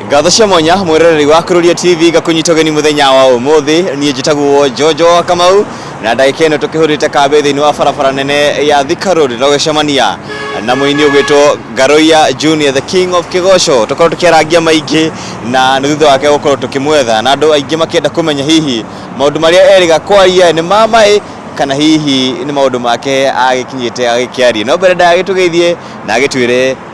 ngatho cia mwanya mwĩroreri wa kururia tv ngakunyita ũgeni mũthenya wa ũmũthĩ niĩ njĩtagwo njonjo wa kamau na ndagĩka ĩno tũkĩhũrĩte kambĩ thĩinĩ wa barabara nene ya thika road na gũcemania na mũini ũgwĩtwo ngaroia junior the king of kĩgoco tũkorwo tũkĩarangia maingĩ na nĩ thutha wake gũkorwo tũkĩmwetha na andũ aingĩ makĩenda kũmenya hihi maũndũ marĩa erĩga kwaria nĩ ma maĩ kana hihi nĩ maũndũ make agĩkinyĩte agĩkĩaria no mbere ndagagĩtũgeithie na agĩtwĩre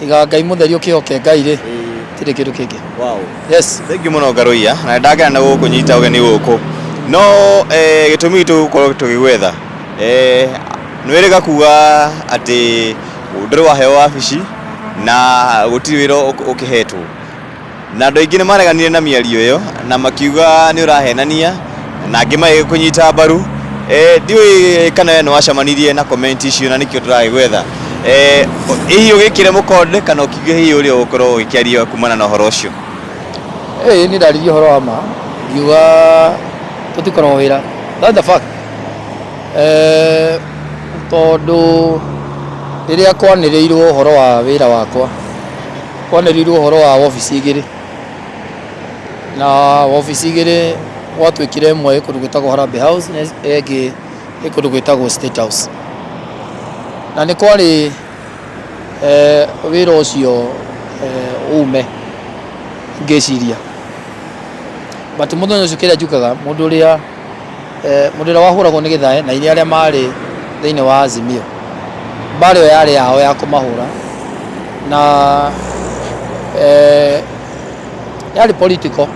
tiga ngai mũtheri ũkĩhoke ngai rĩ tirĩ kĩndũ kĩngĩ wow. yes thank you muno ngaruia na ndagena na gukunyita ugeni guku no eh, gitumi gitu gukorwo tugigwetha eh, nwiriga kuga ati nduri waheo wabici na gutiri wira ukihetwo Na andũ aingĩ nĩ mareganire na mĩario ĩyo na makiuga nĩ ũrahenania na angĩ magĩkũnyita mbaru. Eh, ndiũĩ kana we nĩ wacamanirie na komenti icio na nĩkĩo tũragĩgwetha. Eh, hihi ũgĩkĩre mũkonde kana ũkiuge hihi ũrĩa ũgũkorwo ũgĩkĩaria kumana na ũhoro ũcio. Ĩĩ niĩ ndaririe ũhoro wa ma ngiuga tũtikoragwo wĩra that's the fact eh, tondũ rĩrĩa kwanĩrĩirwo ũhoro wa wĩra wakwa Kwanerirwo ũhoro wa wobici igĩrĩ na wobici igĩrĩ gwatuĩkire ĩmwe ĩ kũndũ gwĩtagwo Harambee House na ĩyo ĩngĩ ĩ kũndũ gwĩtagwo State House. Na nĩ kwarĩ wĩra ũcio ume ngĩciria but mũthenya ũcio kĩrĩa njũkaga mũndũ ũrĩa... Mũndũ ũrĩa wahũragwo nĩ Gĩthae na irĩ arĩa maarĩ thĩinĩ wa Azimio, mbaara ĩyo yarĩ yao ya kũmahũra na yarĩ political,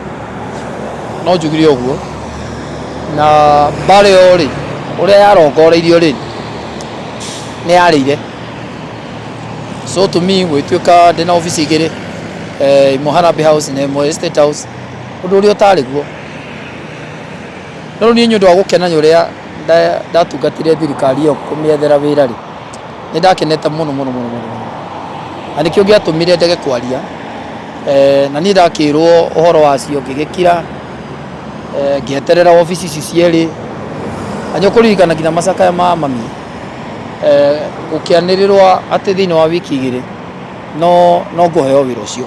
no njugire ũguo. Na mbaara ĩyo rĩ, ũrĩa yarongoreirio rĩ, nĩ yarĩire. So to me gũgĩtuĩka ndĩna obici igĩrĩ, ĩmwe Harambee House na ĩmwe State House, ũndũ ũrĩa ũtarĩ guo. No rĩu niĩ nĩ ũndũ wa gũkena nĩ ũrĩa nda- ndatungatire thirikari ĩyo kũmĩethera wĩra-rĩ, nĩ ndakenete mũno mũno mũno mũno mũno. Na nĩkĩo gĩatũmire ndege kwaria, eh, na niĩ ndakĩrwo ũhoro wacio ngĩgĩkira, eh, ngĩeterera wabici ici cierĩ, na nĩ ũkũririkana nginya macakaya ma mami, eh, gũkĩanĩrĩrwo atĩ thĩiniĩ wa wiki igĩrĩ no no ngũheo wĩra ũcio.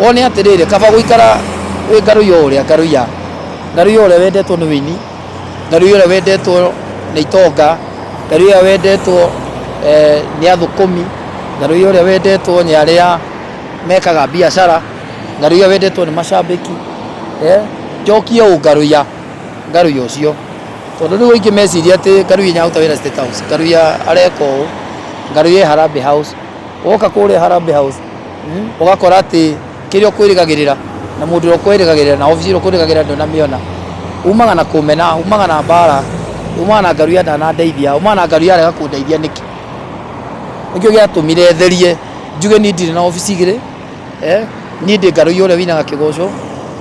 Wone atĩrĩrĩ, kaba gũikara wĩ ngarũi o ũrĩa ngarũi ya ngarũi ũrĩa wendetwo nĩ wĩini ngarũi ũrĩa wendetwo nĩ itonga ngarũi ũrĩa wendetwo eh, nĩ athũkũmi ngarũi ũrĩa wendetwo nĩ arĩa mekaga biacara ngarũi ũrĩa wendetwo nĩ macambĩki eh, njokie ũ ngarũi ya ngarũi ũcio tondũ rĩu aingĩ meciria atĩ ngarũi nyaruta wĩra state house ngarũi ya areka ũũ ngarũi ya harambee house woka kũrĩa harambee house ũgakora atĩ kĩrĩa ũkwĩrĩgagĩrĩra na mũndũ ũrĩa ũkwĩrĩgagĩrĩra na obici ĩrĩa ũkwĩrĩgagĩrĩra ndũnamĩona. Umaga na kũmena, umaga na mbara, umaga na ngaruya ndanandeithia, umaga na ngaruya arega kũndeithia nĩkĩ? Nĩkĩo gĩatũmire therie njuge niĩ ndirĩ na obici igĩrĩ, niĩ ndĩ ngaruya ũrĩa wĩinaga kĩgoco,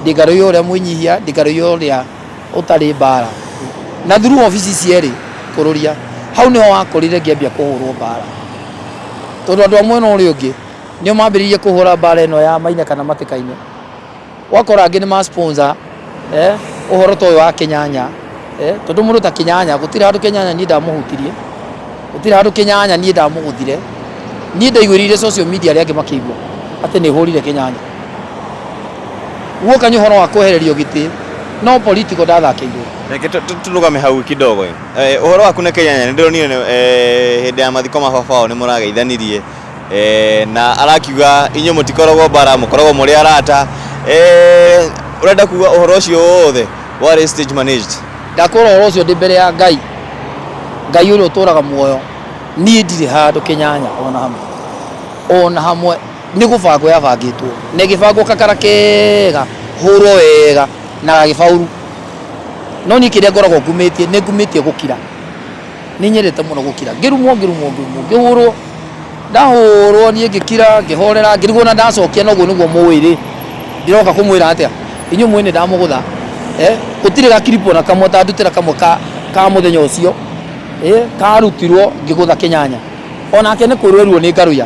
ndĩ ngaruya ũrĩa mwĩnyihia, ndĩ ngaruya ũrĩa... ũtarĩ mbaara. Na through ofici cierĩ kũrũria. Hau nĩho wakorire ngĩambia kũhũrwo mbaara. Tondũ andũ a mwena ũrĩa ũngĩ nĩo mambĩrĩirie kũhũra mbaara ĩno ya Maina kana Matĩkainĩ. Ũgakora angĩ nĩ ma sponsor ũhoro ta ũyũ wa Kĩnyanya. Tondũ mũndũ ta Kĩnyanya gũtirĩ handũ Kĩnyanya niĩ ndamũhutirie, gũtirĩ handũ Kĩnyanya niĩ ndamũgũthire. Niĩ ndaiguĩrĩire social media arĩa angĩ makĩigua atĩ nĩhũrire Kĩnyanya. Guoka nĩ ũhoro wa kwehererio gĩtĩ no political ndathakĩirwo. Reke tũ- tũ- tũrũgame hau kidogo ĩ. Eh, ũhoro waku na Kenya nĩ ndĩronire nĩ- eh, hĩndĩ ya mathiko ma baba wao nĩ mũrageithanirie Eh, na arakiuga inyuĩ mũtikoragwo mbara mũkoragwo mũrĩ arata Eh, ũrenda kuga ũhoro ũcio wothe warĩ stage managed Ndakwĩra ũhoro ũcio ndĩ mbere ya Ngai, Ngai ũrĩa ũtũũraga muoyo, niĩ ndirĩ handũ kĩnyanya ona hamwe, ona hamwe. Nĩ gũbangwo yabangĩtwo na ĩgĩbangwo kakara kega, hũrwo wega na gagĩbauru. No niĩ kĩrĩa ngoragwo ngumĩtie, nĩ ngumĩtie gũkira. Nĩ nyendete mũno gũkira. Ngĩrumwo, ngĩrumwo, ngĩrumwo, ngĩhũrwo. Ndahũrwo niĩ ngĩkira, ngĩhorera, ngĩrigwo o na ndacokia na ũguo nĩguo mũũĩ rĩ, ndĩroka kũmwĩra atĩa? Inyuĩ mũũĩ nĩ ndamũgũtha. Gũtirĩ ga clip o na kamwe atandutĩra kamwe ka mũthenya ũcio, karutirwo ngĩgũtha kĩnyanya. O nake nĩ kũrua erirwo nĩ ngarũya.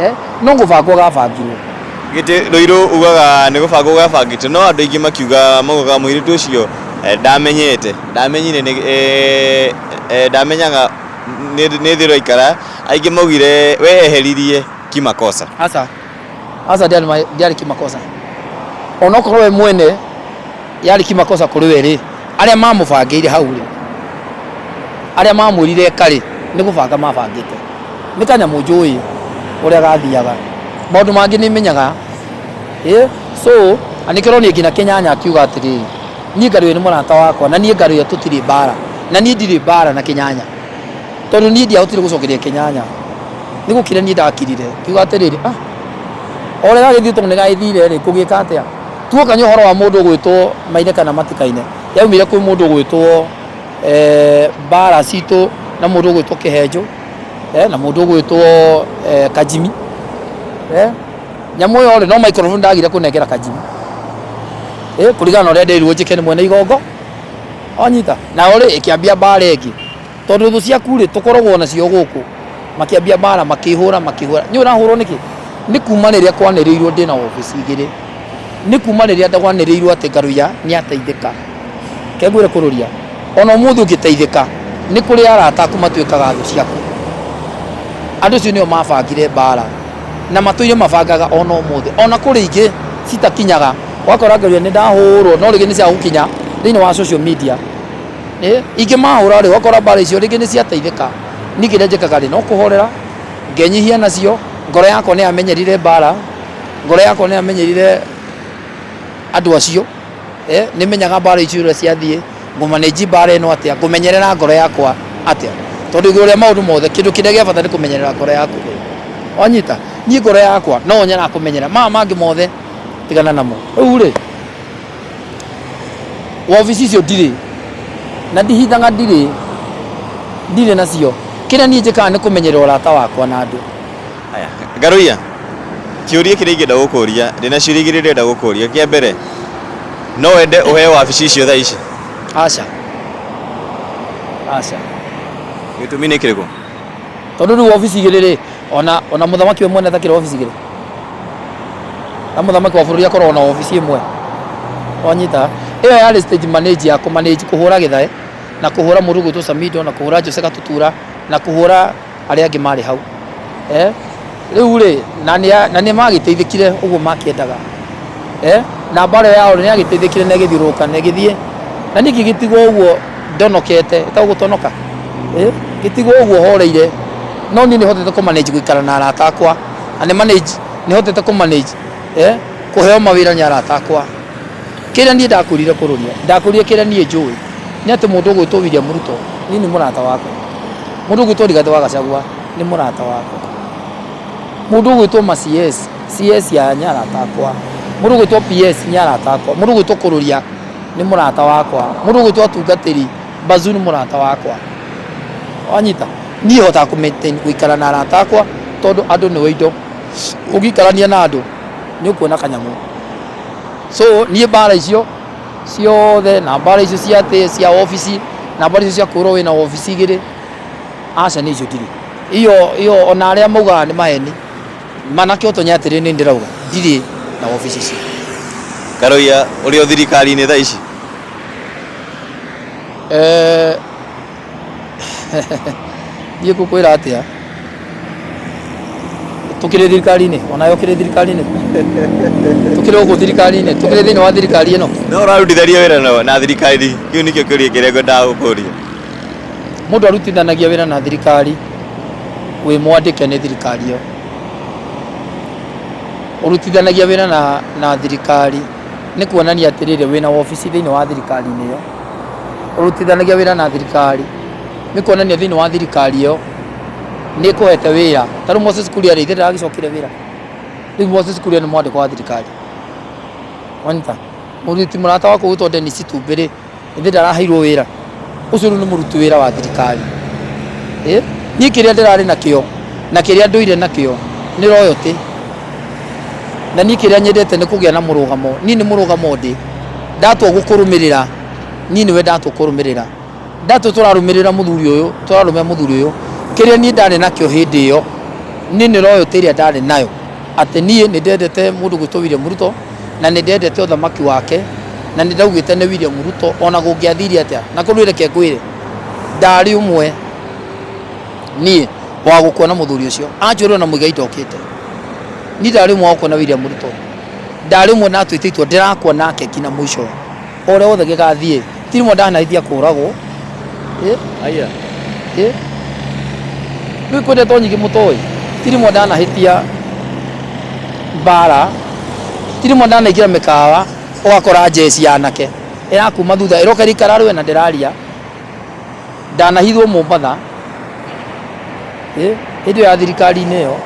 Eh, no gũbangwo gabangirwo. Gĩtĩ Rũirũ ugaga nĩ gũbangwo gabangĩtwo no andũ aingĩ makiuga maugaga mũirĩtu ũcio eh, ndamenyete ndamenyire nĩ- eh, eh, ndamenyaga nĩ nĩ thĩ ũraikara aingĩ maugire we eheririe kimakosa Aca. Aca ndiarĩ ma- ndiarĩ kĩmakosa. Onokorwo we mwene yarĩ kimakosa kũrĩ we rĩ arĩa mamũbangĩire hau rĩ arĩa mamwĩrire eka rĩ nĩ gũbanga mabangĩte nĩ kanyamũ njũĩ ũrĩa gathiaga maũndũ mangĩ nĩ menyaga ĩ so na nĩkĩo ũronire nginya kĩnyanya akiuga atĩrĩrĩ niĩ ngarũyo nĩ mũrata wakwa na niĩ ngarũyo tũtirĩ mbara na niĩ ndirĩ mbara na kĩnyanya tondũ niĩ ndiahotire gũcokeria kĩnyanya nĩ gũkire niĩ ndakirire ngiuga atĩrĩrĩ ah o ũrĩa gagĩthiĩ tondũ nĩ gagĩthire rĩ ngũgĩka atĩa Tuokania ũhoro wa mũndũ ũgwĩtwo Maine kana Matikaine, yaumire kwĩ mũndũ ũgwĩtwo eh, Mbara Citũ na mũndũ ũgwĩtwo Kĩhenjũ eh, na mũndũ ũgwĩtwo eh, Kajimi eh, nyamũ ĩyo rĩ no microphone ndagire kũnengera Kajimi eh, kũringana na ũrĩa nderirwo njĩke nĩ mwene igongo wanyita nayo rĩ ĩkĩambia mbara ĩngĩ Tondũ thũ ciaku-rĩ, tũkoragwo nacio gũkũ. Makĩambia mbaara, makĩhũra, makĩhũra. Nĩũĩ ũrahũrwo nĩkĩ? Nĩ kuuma rĩrĩa kwanĩrĩirwo ndĩ na wabici igĩrĩ. Nĩ kuuma rĩrĩa kwanĩrĩirwo atĩ Ngaruiya nĩateithĩka. Reke ngwĩre kũrũria, o na ũmũthĩ ũngĩteithĩka, nĩ kũrĩ arata aku matuĩkaga thũ ciaku. Andũ acio nĩo mabangire mbaara, na matũire mabangaga o na ũmũthĩ. O na kũrĩ ingĩ citakinyaga. Ũgakora Ngaruiya, nĩndahũũrwo, no rĩngĩ nĩ cia gũkinya thĩinĩ wa social media. Ĩ, ingĩmahũra rĩ, wakora mbaara icio rĩngĩ nĩ ciateithĩka, niĩ kĩrĩa njĩkaga rĩ, no kũhorera, ngenyihia nacio, ngoro yakwa nĩ yamenyerire mbaara, ngoro yakwa nĩ yamenyerire andũ acio, ĩ, nĩ menyaga mbaara icio ũrĩa ciathiĩ, ngũ manage mbaara ĩno atĩa, ngũmenyerera ngoro yakwa atĩa. Tondũ igũrũ rĩa maũndũ mothe, kĩndũ kĩrĩa gĩa bata nĩ kũmenyerera ngoro yaku. Wanyita? Niĩ ngoro yakwa, no yo nyonaga kũmenyerera. Maya mangĩ mothe, tigana namo. Rĩu rĩ, Wobici icio ndirĩ, na ndihithaga ndirĩ, ndirĩ nacio. Kĩrĩa niĩ njĩkaga nĩ kũmenyerera ũrata wakwa na andũ. Haya, Ngarũiya, kĩũria kĩrĩa ingĩenda gũkũria, ndĩna ciũria igĩrĩ ndĩrenda gũkũria. Kĩa mbere, no wende ũheo wabici icio thaa ici? Aca, aca. Gĩtũmi nĩ kĩrĩkũ? Tondũ rĩu wobici igĩrĩ-rĩ. ona ona muthamaki we mwene atakira obici giri na muthamaki wa bururi akorwo na obici imwe wanyita iyo yari stage manage ya kumanage kuhura githae na kuhura murugu tu samido na kuhura jose gatutura na kuhura aria angi mari hau eh riu ri na ni na ni magiteithikire uguo makiendaga eh na mbara yao ni agiteithikire na igithiuruka na igithie na niki gitigwo uguo ndonokete etagwo gũtonoka eh, gĩtigwo ũguo horeire no niĩ nĩ hotete kũ manage gũikara na arata akwa na nĩ manage nĩ hotete kũ manage eh, kũheo mawĩra nĩ arata akwa kĩrĩa niĩ ndakũrire kũrũria ndakũrire kĩrĩa niĩ njũĩ nĩ atĩ mũndũ ũgwĩtwo William Ruto niĩ nĩ mũrata wakwa mũndũ ũgwĩtwo Rigathĩ wa Gachagua nĩ mũrata wakwa mũndũ ũgwĩtwo ma CS CS ya nĩ arata akwa mũndũ ũgwĩtwo PS nĩ arata akwa mũndũ ũgwĩtwo kũrũria nĩ mũrata wakwa mũndũ ũgwĩtwo atungatĩri bazu nĩ mũrata wakwa wanyita niĩ hotaga kũ maintain gũikara na arata akwa tondũ andũ nĩwe indo ũngĩikarania na andũ nĩ ũkuona kanyamũ so niĩ mbara icio ciothe na mbara icio cia atĩ cia obici na mbara icio cia kwĩrwo wĩna obici igĩrĩ aca nĩ icio ndirĩ iyo iyo ona arĩa maugaga nĩ maheni Manake ũtonye atĩrĩ nĩ ndĩrauga ndirĩ na obici cia. Karoiya ũrĩ o thirikari-inĩ thaa ici? Eh, Niĩ ngũkwĩra atĩa? Tũkĩrĩ thirikari-inĩ, onawe ũkĩrĩ thirikari-inĩ? Tũkĩrĩ gũkũ thirikari-inĩ, tũkĩrĩ thĩinĩ wa thirikari ĩno? No ũrarutithania wĩra na thirikari? Kĩu nĩkĩo kĩũria kĩrĩa ngwendaga gũkũria. Mũndũ arutithanagia wĩra na thirikari wĩ mwandĩke nĩ thirikari ĩyo. Ũrutithanagia wĩra na na thirikari nĩ kuonania atĩrĩrĩ wĩna wobici thĩinĩ wa thirikari-inĩ ĩyo. Ũrutithanagia wĩra na thirikari nĩ kuonania thĩinĩ wa thirikari ĩyo nĩ ĩkũhete wĩra. Ta rĩu Moses Kuria rĩ, ithe ndaragĩcokire wĩra? Rĩu Moses Kuria nĩ mwandĩkwo wa thirikari. Wanyita? Mũrutwo mũrata wakwa ũgwĩtwo Dennis Itumbĩ rĩ, Ĩndĩ ndaraheirwo wĩra. Ũcio rĩu nĩ mũruti wĩra wa thirikari. Ĩ! Niĩ kĩrĩa ndĩrarĩ nakĩo na kĩrĩa ndũire nakĩo nĩ royalty. Na niĩ kĩrĩa nyendete nĩ kũgĩa na mũrũgamo. Niĩ nĩ mũrũgamo ndĩ. Ndatua gũkũrũmĩrĩra, niĩ nĩwe ndatua kũrũmĩrĩra. Ndatua tũrarũmĩrĩra mũthuri ũyũ, tũrarũmĩrĩra mũthuri ũyũ, kĩrĩa niĩ ndarĩ nakĩo hĩndĩ ĩyo, niĩ nĩ royalty ĩrĩa ndarĩ nayo. Atĩ niĩ nĩ ndendete mũndũ ũgwĩtwo William Ruto. na nĩ ndendete ũthamaki wake na nĩ ndaugĩte nĩ William Ruto ona gũngĩathiire atĩa na kũrĩ ũreke ngwĩre ndarĩ ũmwe niĩ wa gũkuona mũthuri ũcio anjũrĩrwo na mũigai ndokĩte niĩ ndarĩ ũmwe wa gũkuona William Ruto ndarĩ ũmwe natwĩte itua ndĩrakuona keki na mũico O ũrĩa wothe gĩgathiĩ. Tirimo ndanahĩtia kũũragwo. Haiya. Rĩu kwĩ ndeto nyingĩ mũtoĩ. Tirimo ndanahĩtia mbaara. Tirimo ndanaingĩra mĩkawa ũgakora njeci ya anake ĩrakuma thutha ĩroka ĩraikara rwena ndĩraria. Ndanahithwo Mombatha hĩndĩ ĩyo ya thirikari-inĩ ĩyo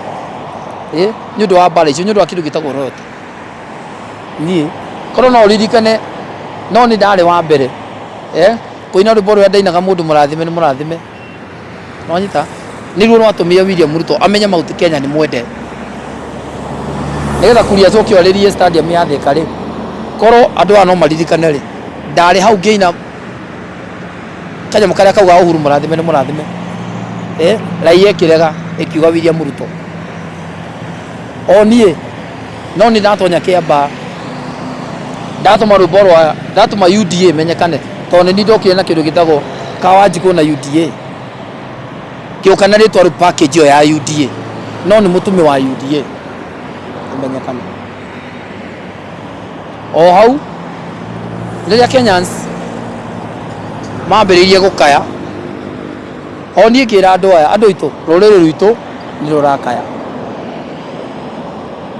nĩ ũndũ wa mbaara icio, nĩ ũndũ wa kĩndũ gĩtagwo royalty. niĩ korwo no ũririkane no nĩ ndarĩ wa mbere eh, kũina rwĩmbo rũrĩa ndainaga mũndũ mũrathime nĩ mũrathime wanyita nĩruo rwatũmire William Ruto amenye mauti Kenya nĩ mwende nĩgetha kuria coke orĩrie stadium ya Thika rĩ korwo andũ aya no maririkane rĩ ndarĩ hau ngĩina kanyamũ karĩa kauga Uhuru mũrathime nĩ mũrathime eh, raia ĩkĩrega ĩkiuga William Ruto o niĩ no nĩ ndatonya kĩambaa ndatũma rwĩmbo rwa ndatũma UDA menyekane tondũ nĩ niĩ ndokire na kĩndũ gĩtagwo kawanjikũ na UDA ngĩũka na rĩtwa rĩu package ĩyo ya UDA no nĩ mũtũmĩ wa UDA ĩmenyekane o hau rĩrĩa Kenyans mambĩrĩirie gũkaya O niĩ ngĩĩra andũ aya, Andũ aitũ, rũrĩrĩ rwitũ nĩ rũrakaya.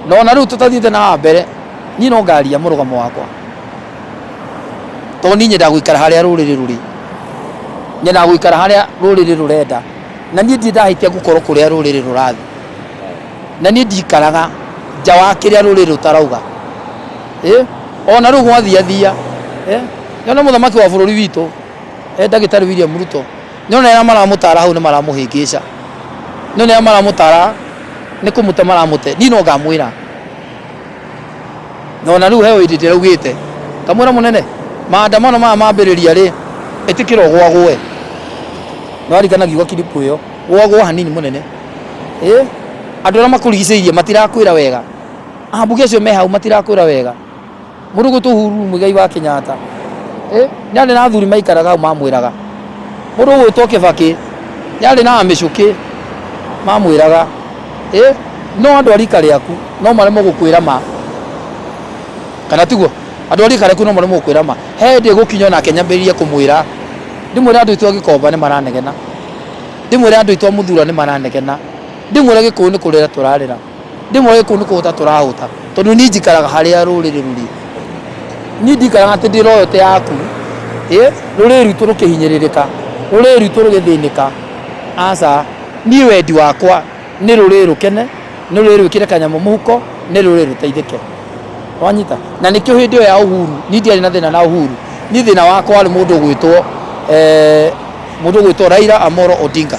Na o na rĩu tũtathiĩte na haha mbere, niĩ no ngaaria mũrũgamo wakwa. Tondũ niĩ nyendaga gũikara harĩa rũrĩrĩ rũrĩ. Nyendaga gũikara harĩa rũrĩrĩ rũrenda. Na niĩ ndirĩ ndahĩtia gũkorwo kũrĩa rũrĩrĩ rũrathiĩ. Na niĩ ndikaraga nja wa kĩrĩa rũrĩrĩ rũtarauga. Ĩ! O na rĩu gwathiathia, ĩ! Nĩ wona mũthamaki wa bũrũri witũ. E ndagĩtarĩ William Ruto nĩ ona arĩa maramũtara hau nĩ maramũhĩngĩca, nĩ ona arĩa maramũtara nĩ kũmũte maramũte, niĩ no ngamwĩra na ona rĩu he hĩndĩ ndĩraugĩte ngamwĩra mũnene, maandamano maya mambĩrĩria rĩ, ĩtĩkĩra ũgwagũe. Nĩ warikana ngiuga kiripu ĩyo, gwagũa hanini mũnene. Ĩ andũ arĩa makũrigicĩirie matirakwĩra wega, ambunge acio me hau matirakwĩra wega. Mũrũgũtũ Uhuru Muigai wa Kenyatta nĩarĩ na athuri maikaraga hau mamwĩraga, mũndũ ũgwĩtwo Kibaki nĩarĩ na amĩcũkĩ mamwĩraga no andũ a rika rĩaku no maremwo gũkwĩra ma, kana tiguo? Andũ a rika rĩaku no maremwo gũkwĩra ma. He hĩndĩ ĩgũkinya o nake nyambĩrĩrie kũmwĩra, ndĩmwĩre andũ aitũ a Gĩkomba nĩmaranegena, ndĩmwĩre andũ aitũ a Mũthurwa nĩmaranegena, ndĩmwĩre Gĩkũyũ nĩ kũrĩra tũrarĩra. Ndĩmoĩ kũu nĩ kũhũta tũrahũta. Tondũ niĩ njikaraga harĩa rũrĩrĩ rũrĩ. Niĩ ndikaraga atĩ ndĩra ũyũ ti yaku. Ĩ, rũrĩrĩ rwitũ rũkĩhinyĩrĩrĩka, rũrĩrĩ rwitũ rũgĩthĩnĩka, aca. Niĩ wendi wakwa nĩ rũrĩrĩ rũkene, nĩ rũrĩrĩ rwĩkĩre kanyamũ mũhuko, nĩ rũrĩrĩ rũteithĩke. Nĩ wanyita? Na nĩkĩo hĩndĩ ĩyo ya Uhuru, niĩ ndiarĩ na thĩna na Uhuru. Niĩ thĩna wakwa warĩ mũndũ ũgwĩtwo, mũndũ ũgwĩtwo Raila Amolo Odinga.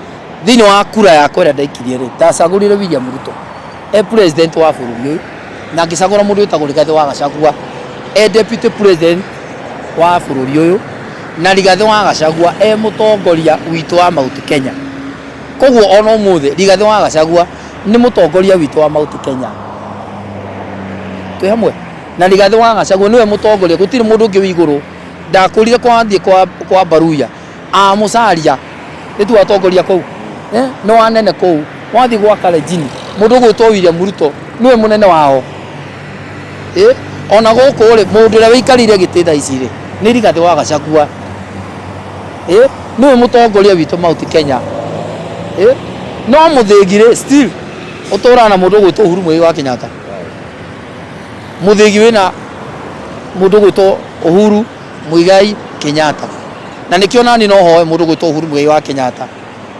Thĩinĩ wa kura yakwa ĩrĩa ndaikirie rĩ, ndacagũrire William Ruto e president wa bũrũri ũyũ na ngĩcagũra mũndũ wĩtagwo Rigathĩ wa Gachagua e deputy president wa bũrũri ũyũ na Rigathĩ wa Gachagua e mũtongoria witũ wa Mount Kenya. Koguo ona ũmũthĩ Rigathĩ wa Gachagua nĩ mũtongoria witũ wa Mount Kenya. Twĩ hamwe? Na Rigathĩ wa Gachagua nĩwe mũtongoria, gũtirĩ mũndũ ũngĩ wĩ igũrũ. Ndakũrire kwa thiĩ kwa, kwa Mbaruya. Ah, musaria itu atongoria kuu eh, ni wanene kuu wathi gwa karejini mundu gwitwo William Ruto niwe munene wao eh, ona guku ri mundu uria wikarire giti thaa ici ri ni rigathi wa gacakua eh, niwe mutongoria witu mauti Kenya eh, no muthingi ri still uturaga na mundu gwitwo Uhuru Muigai wa Kenyatta muthingi wina mundu gwitwo Uhuru Muigai Kenyatta. Na nĩkĩo nani no hoe mũndũ gwĩtwo Uhuru Muigai wa Kenyatta.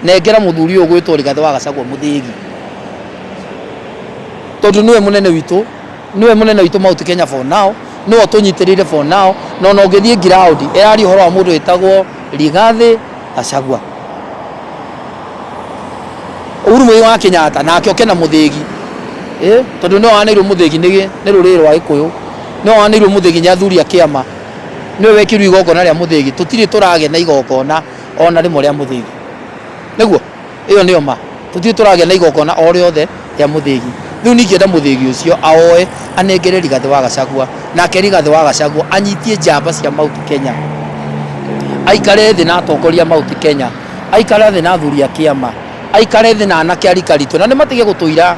Nengera mũthuri ũyũ gwĩtwo Rigathi wa Gachagua mũthĩgi. Tondũ nĩwe mũnene witũ, nĩwe mũnene witũ Mount Kenya for now, nĩwe ũtũnyitĩrĩire for now, na ona ũngĩthiĩ ground, ĩraria ũhoro wa mũndũ wĩtagwo Rigathi Gachagua. Uhuru Muigai wa Kenyatta nake oke na muthegi eh, tondu ni waneirwo muthegi ni ni ruriri rwa Gikuyu ni waneirwo muthegi ni athuri a kiama ni wekirwo igongona ria muthegi tutiri turage na igongona ona rimwe ria muthegi niguo Ĩyo nĩyo ma. Tũtirĩ tũragĩa na igongona o rĩothe rĩa mũthĩgi. Rĩu ningĩenda mũthĩgi ũcio aoe anengere Rigathĩ wa Gachagua, nake Rigathĩ wa Gachagua anyitie njamba cia Mount Kenya, aikare thĩ na atongoria a Mount Kenya, aikare thĩ na athuri a kĩama, aikare thĩ na anake a rika ritũ, na nĩ matige gũtũira.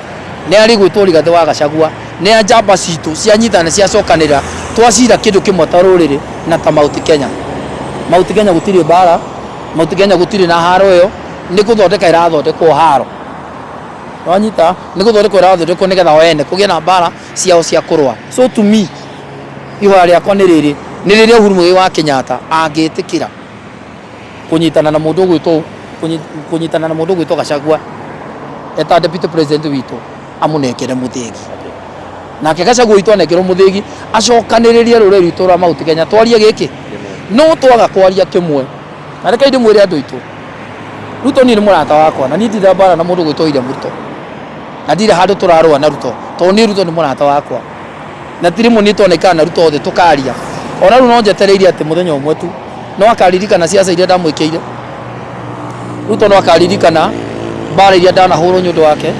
Nĩ arĩ gwĩtwo Rigathĩ wa Gachagua. Nĩ a njamba citũ cianyitana na ciacokanĩrĩra twacira kĩndũ kĩmwe ta rũrĩrĩ na ta Mount Kenya. Mount Kenya gũtirĩ mbara, Mount Kenya gũtirĩ na haro ĩyo, nĩ gũthondeka ĩrathondekwo haro. Nĩ wanyita? Nĩ gũthondekwo ĩrathondekwo nĩ getha o ene kũgĩe na mbara ciao cia kũrũa. So to me, ihoya rĩakwa nĩ rĩrĩ, nĩ rĩrĩa Uhuru Muigai wa Kenyatta angĩtĩkĩra, Kũnyitana na mũndũ ũgwĩtwo kũnyitana na mũndũ ũgwĩtwo Gachagua eta deputy president witũ amũnengere mũthĩgi nake Gachagua witũ anengerwo mũthĩgi acokanĩrĩrie rũrĩrĩ rwitũ rwa Mount Kenya twarie gĩkĩ no twaga kwaria kĩmwe na reke ndĩ mwĩre andũ aitũ Ruto niĩ nĩ mũrata wakwa na niĩ ndira mbara na mũndũ gwĩtwo William Ruto na ndirĩ handũ tũrarũa na Ruto tondũ niĩ Ruto nĩ mũrata wakwa Na ti rĩmwe nĩtwonekaga na Ruto thĩ tũkaria. O na rĩu no njetereire atĩ mũthenya ũmwe tu no akaririkana ciaca iria ndamwĩkĩire. Ruto no akaririkana mbara iria ndanahũrwo nĩ ũndũ wake.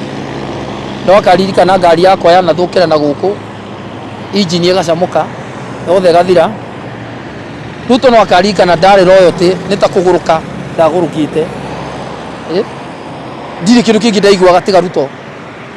No akaririkana ngari yakwa yanathũkĩra na gũkũ, injini ĩgacamũka, yothe ĩgathira. Ruto no akaririkana ndarĩ royalty, nĩ ta kũgũrũka ndagũrũkĩte. Ndirĩ kĩndũ kĩngĩ ndaiguaga tiga Ruto.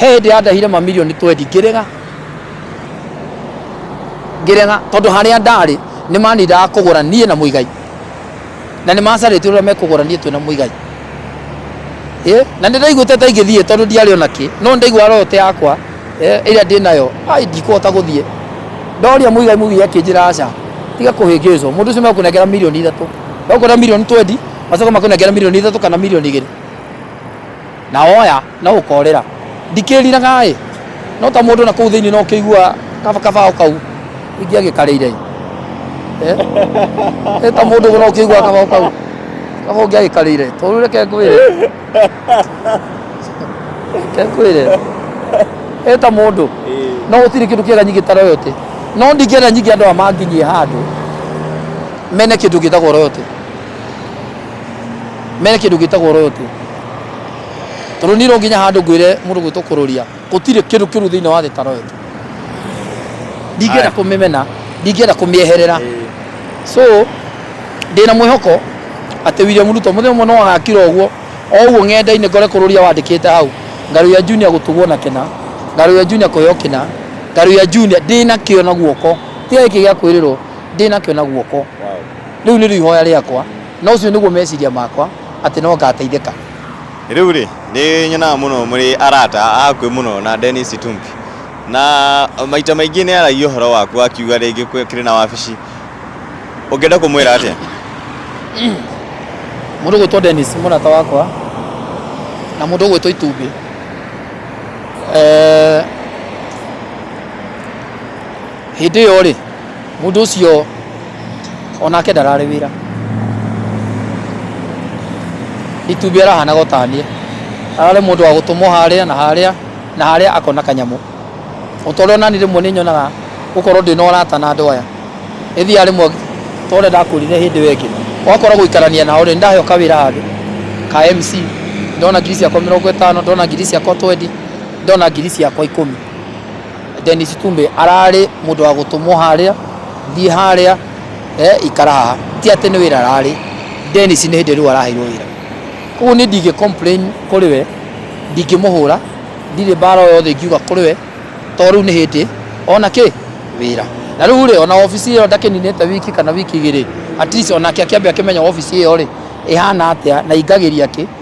he hĩndĩ yandahire mamirioni twendi ngĩrega ngĩrega tondũ harĩa ndarĩ nĩ manindaga kũgũra niĩ na mũigai na nĩ macarĩtie ũrĩa mekũgũra niĩ twĩ na mũigai Eh, na nä ndaiguä ta ingä thiä tondå ndiarä ona kä no nä ndaigua roho te yakwa eh, ä rä a ndä nayo ai ndikåhota gå thiä ndoria må igai må gigi akä njä ra aca tiga kå hä ngä cwo må ndå å cio mekå nengera milioni ithatå mekå na milioni twendi macoka makå nengera milioni ithatå kana milioni igä rä na oya Na ũkoorĩra. Ndikĩriraga-ĩ, no ta mũndũ na kũu thĩinĩ no kĩigua kaba kabaũ kau ingĩagĩkarĩire-ĩ. Eeh. Ĩ ta mũndũ ũguo no kĩigua kabaũ kau kaba ũngĩagĩkarĩire. To rĩu reke ngwĩre. Reke ngwĩre. Ĩ ta mũndũ. No gũtirĩ kĩndũ kĩega nyingĩ ta royalty. No ndingĩenda nyingĩ andũ aya manginyie handũ mene kĩndũ gĩtagwo royalty. Mene kĩndũ gĩtagwo royalty. Tondũ niĩ no nginya handũ ngwĩre mũndũ gwĩtwo kũrũria, gũtirĩ kĩndũ kĩũru thĩinĩ wa thĩ ta royo. Ndingĩenda kũmĩmena, ndingĩenda kũmĩeherera. So ndĩna mwĩhoko atĩ William Ruto mũthenya ũmwe no agakira ũguo, o ũguo ng'enda-inĩ ngore kũrũria wandĩkĩte hau, Ngarũya Junior gũtugwo na kĩna, Ngarũya Junior kũheo kĩna, Ngarũya Junior ndĩ nakĩo na guoko. Tiga gĩkĩ gĩa kwĩrĩrwo, ndĩ nakĩo na guoko. Rĩu nĩrĩo ihoya rĩakwa, na ũcio nĩguo meciria makwa. atĩ no ngaateithĩka. Rĩu-rĩ, nĩ nyonaga mũno mũrĩ arata a hakuhĩ mũno na Dennis Itumbi, na maita maingĩ nĩ aaragia ũhoro waku akiuga rĩngĩ kĩrĩ na wabici. Ũngĩenda kũmwĩra atĩa? Mũndũ ũgwĩtwo Dennis nĩ mũrata wakwa, na mũndũ ũgwĩtwo Itumbi hĩndĩ ĩyo-rĩ, Mũndũ ũcio onake ndararĩ wĩra. Itumbĩ arahanaga ta niĩ. Ararĩ mũndũ wa gũtũmwo harĩa na harĩa na harĩa akona kanyamũ. O ta ũrĩa nani rĩmwe nĩ nyonaga gũkorwo ndĩ na ũrata na andũ aya. Nĩ thiaga rĩmwe ta ũrĩa ndakũrire hĩndĩ ĩyo ĩngĩ, ũgakora gũikarania nao rĩ, nĩ ndaheo kawĩra handũ ka MC, ndona ngiri ciakwa mĩrongo ĩtano, ndona ngiri ciakwa twendi, ndona ngiri ciakwa ikũmi. Dennis Tumbe ararĩ mũndũ wa gũtũmwo harĩa, thiĩ harĩa, eh, ikara haha. Ti atĩ nĩ wĩra ararĩ. Dennis nĩ hĩndĩ rĩu araheirwo wĩra. Koguo niĩ ndingĩ complain kũrĩ we, ndingĩmũhũra, ndirĩ mbara o yothe ingiuga kũrĩ we, tondũ rĩu nĩ hĩndĩ ona kĩ? Wĩra. Na rĩu rĩ, ona wabici ĩyo ndakĩninĩte wiki kana wiki igĩrĩ, at least onake akĩambe akĩmenya wabici ĩyo rĩ, ĩhana atĩa na ingagĩria kĩ?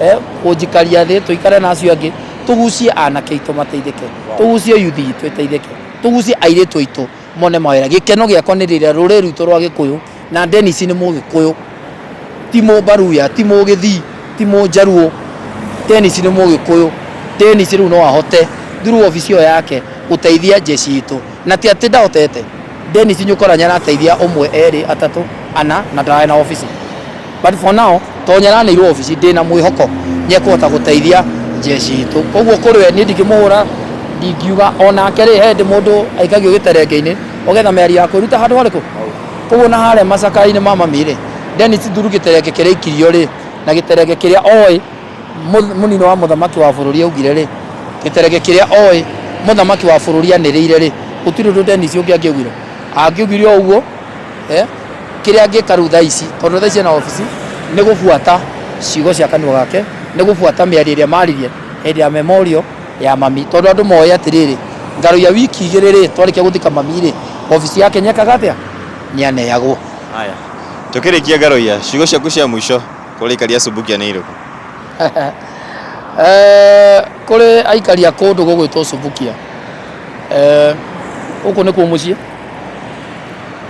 eh, kũnjikaria thĩ tũikare na acio angĩ tũgucie anake aitũ mateithĩke tũgucie yuthi itũ ĩteithĩke tũgucie airĩtu aitũ mone mawĩra gĩkeno gĩakwa nĩ rĩrĩa rũrĩrĩ rwitũ rwa gĩkũyũ na Dennis nĩ mũgĩkũyũ ti mũmbaruya ti mũgĩthii ti mũnjaruo Dennis nĩ mũgĩkũyũ Dennis rĩu no ahote through obici ĩyo yake gũteithia jeshi itũ na ti atĩ ndahotete Dennis Nyukora nyarateithia ũmwe erĩ atatũ ana na ndararĩ na obici but for now to nyaranĩirwo obici ndĩ na mwĩhoko nyekũhota gũteithia jeshi itũ koguo kũrĩ we niĩ ndingĩmũhũra ndingiuga onake rĩ he hĩndĩ mũndũ aikagio gĩterenge-inĩ ũgetha mĩari ya kwĩruta handũ harĩkũ koguo na harĩa macakara-inĩ ma mami rĩ Dennis Nduru gĩterenge kĩrĩa aikirio rĩ na gĩterenge kĩrĩa oĩ Mũnini wa mũthamaki wa bũrũri augire-rĩ, gĩterege kĩrĩa oĩ mũthamaki wa bũrũri anĩrĩire-rĩ, gũtirĩ ũndũ Dennis ũngĩ angĩaugire. Angĩaugire o ũguo, kĩrĩa angĩka rĩu thaa ici, tondũ thaa ici ena obici, nĩ gũbuata ciugo cia kanua gake, nĩ gũbuata mĩario ĩrĩa maririe hĩndĩ ya memorial ya mami. Tondũ andũ moĩ atĩrĩrĩ, ngaroiya wiki igĩrĩ-rĩ, twarĩkia gũthika mami-rĩ, obici yake nĩekaga atĩa? Nĩaneyagwo. Haya. Tũkĩrĩkia Ngaroiya, ciugo ciaku cia mũico. Kũrĩ aikari a Subukia nĩ irĩkũ? Eh, kũrĩ aikari a kũndũ gũgwĩtwo Subukia. Eh, Gũkũ nĩkuo mũciĩ,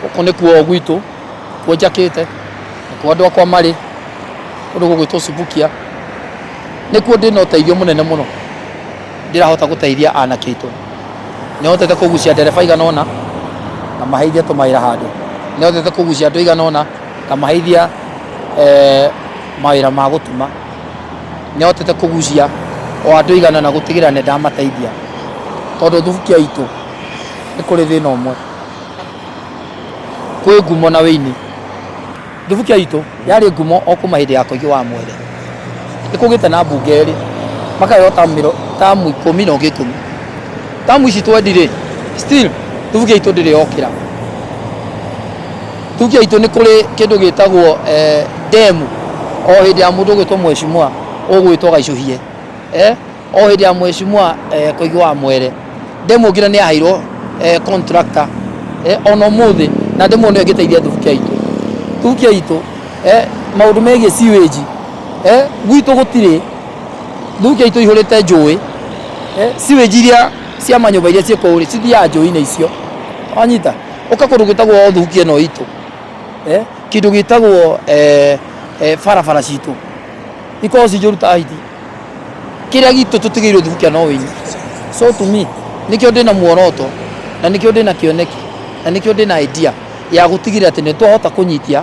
gũkũ nĩkuo gwitũ, kuo njakĩte, nĩkuo andũ akwa marĩ, kũndũ gũgwĩtwo Subukia. Nĩkuo ndĩ na ũteithio mũnene mũno, ndĩrahota gũteithia anake aitũ. Nĩhotete kũgucia ndereba aigana ũna, ngamahe ithiĩ tũmawĩra handũ. Nĩhotete kũgucia andũ aigana ũna. Ngamaheithia eh, mawĩra ma gũtuma nĩ hotete kũgucia o andũ igana na gũtigĩrĩra nĩ ndamateithia tondũ thubukia itũ nĩ kũrĩ thĩna ũmwe kwĩ ngumo na wĩini thubukia itũ yarĩ ngumo o kuma hĩndĩ ya koigi wa mwere nĩ kũgĩte na mbunge erĩ makaheo tamu mĩro- tamu ikũmi na ũngĩ ikũmi tamu ici twendirĩ still thubukia itũ ndĩrĩ yokĩra Tuge aitũ nĩ kũrĩ kĩndũ gĩtagwo eh, demu o hĩndĩ ya mũndũ gwĩtwo mweshimua ũgwĩtwo gaicũhie eh, o hĩndĩ ya mweshimua eh, koigi wa mwere demu ngina nĩ yaheirwo eh, contractor eh, ona ũmũthĩ na demu nĩyo ĩngĩteithia thubuki aitũ thubuki aitũ eh, maũndũ megiĩ sewage eh, gwitũ gũtirĩ thubuki aitũ ihũrĩte njũĩ eh, sewage iria cia manyũmba iria ciĩ kũu rĩ cithiaga njũĩ-inĩ icio wanyita ũka kũndũ gwĩtagwo thuki ĩno itũ eh, kĩndũ gĩtagwo eh, eh, barabara citũ ikorwo ci njũru ta hiti kĩrĩa gitũ tũtigĩirwo thukia no wĩnyi so to me nĩkĩo ndĩ na muoroto na nĩkĩo ndĩ na kĩoneki na nĩkĩo ndĩ na idea ya gũtigĩrĩra atĩ nĩ twahota kũnyitia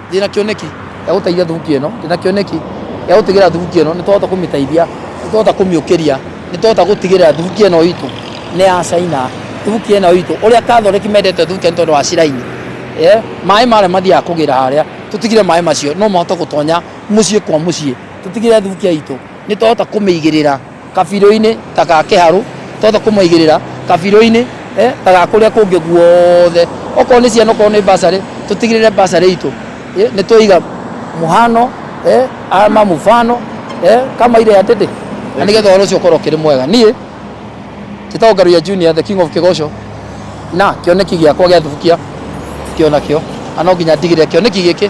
Ndĩ na kĩoneki gĩa gũteithia thubuki ĩno, ndĩ na kĩoneki gĩa gũtigĩrĩra thubuki ĩno nĩ twahota kũmĩteithia, nĩ twahota kũmĩũkĩria, nĩ twahota gũtigĩrĩra thubuki ĩno itũ nĩ ya caina. Thubuki ĩno itũ, ũrĩa athondeki mendete thubuki nĩ tondũ wa ciraini. Maĩ marĩa mathiaga kũgĩra harĩa, tũtigĩrĩre maĩ macio no mahote gũtonya mũciĩ kwa mũciĩ. Tũtigĩrĩre thubuki itũ nĩ twahota kũmĩigĩrĩra. Kabirũ-inĩ ta ga kĩharũ, twahota kũmaigĩrĩra kabirũ-inĩ ta ga kũrĩa kũngĩ guothe. Okorwo nĩ ciana, okorwo nĩ mbacarĩ, tũtigĩrĩre mbacarĩ itũ nĩ twaiga mũhano ama mfano kama ile ya dede na nĩgetha ũhoro ũcio ũkorwo ũkĩrĩ mwega. Niĩ njĩtagwo Ngaruiya Junior the king of Kĩgoco na kĩoneki gĩakwa gĩa thubukia kĩo nakĩo na no nginya ndigĩrĩre kĩoneki gĩkĩ...